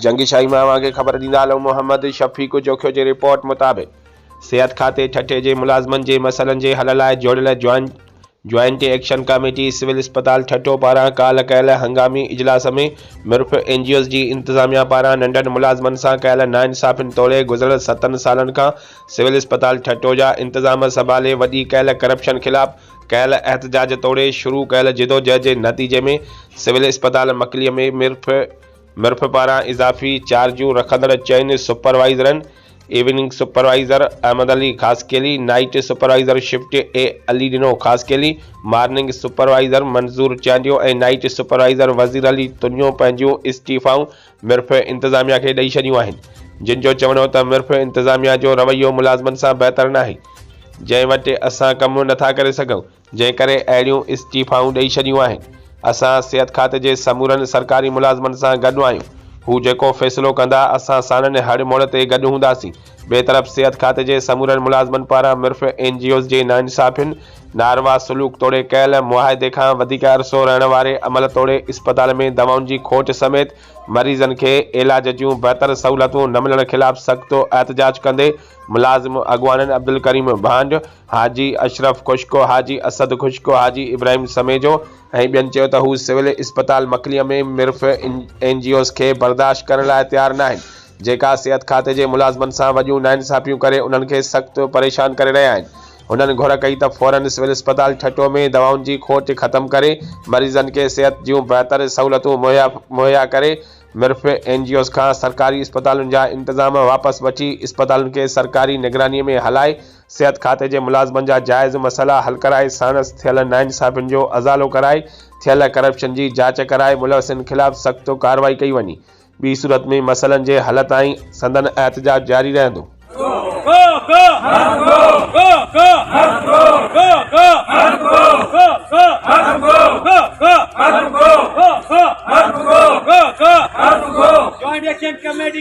جنگي شاهي مان اوهان کي خبر ڏيندا هلون محمد شفيق جوکيو جي رپورٽ مطابق صحت کاتي ٺٽي جي ملازمن جي مسئلن جي حل لاء جوڙيل joint joint action committee civil اسپتال ٺٽو پاران ڪالهه ڪيل هنگامي اجلاس ۾ ميرپور اين جي اوز جي انتظاميا پاران ننڍن ملازمن سان ڪيل ناانصافين توڙي گذريل ستن سالن کان سول اسپتال ٺٽو جا انتظام سنڀالي وڏي ڪيل ڪرپشن خلاف ڪيل احتجاج توڙي شروع ڪيل جدوجهد جي نتيجي ۾ سول اسپتال مڪليء ۾ ميرپور مرف پاران اضافي چارجون رکندڙ چئن سپروائيزرن evening supervisor Ahmed Ali Khaskheli, night supervisor shift A Ali Dino Khaskheli, morning supervisor Manzoor Chandio ۽ night supervisor Wazir Ali Tunio پنهنجون استعيفائون مرف انتظاميا کي ڏئي ڇڏيون آهن جن جو چوڻ هو ته مرف انتظاميا جو رويو ملازمن سان بهتر ناهي جنهن وٽ اسان ڪم نٿا ڪري سگهون. جنهن ڪري اهڙيون استعيفائون ڏئي ڇڏيون آهن. اسان صحت کاتي جي سمورن سرڪاري ملازمن سان گڏ آهيون. هو جيڪو فيصلو ڪندا، اسان ساڻن هڙ موڙ تي گڏ هونداسين. ٻئي طرف صحت کاتي جي سمورن ملازمن پاران مرف اين جي اوز جي ناانصافين، ناروا سلوڪ توڙي ڪيل معاهدي کان وڌيڪ عرصو رهڻ واري عمل توڙي اسپتال ۾ دوائن جي کوٽ سميت مريضن کي علاج جون بهتر سهولتون نه ملڻ خلاف سخت احتجاج ڪندي ملازم اڳواڻن عبدالڪريم ڀانڊ، حاجي اشرف خوشڪو، حاجي اسد خوشڪو، حاجي ابراهيم سميجو ۽ ٻين چيو ته هو سول اسپتال مڪليء ۾ مرف اين جي اوز کي برداشت ڪرڻ لاء تيار ناهن، جيڪا صحت کاتي جي ملازمن سان وڏيون ناانصافيون ڪري انهن کي سخت پريشان ڪري رهيا آهن. هنن گهر ڪئي ته فورن سول اسپتال ٺٽو ۾ دوائن جي کوٽ ختم ڪري مريضن کي صحت جون بهتر سهولتون مهيا ڪري مرف اين جي اوز کان سرڪاري اسپتالن جا انتظام واپس وٺي اسپتالن کي سرڪاري نگراني ۾ هلائي صحت کاتي جي ملازمن جا جائز مسئلا حل ڪرائي ساڻس ٿيل ناانصافين جو ازالو ڪرائي ٿيل ڪرپشن جي جاچ ڪرائي ملوثين خلاف سخت ڪارروائي ڪئي وڃي ٻي صورت ۾ مسئلن جي حل تائين سندن احتجاج جاري رهندو.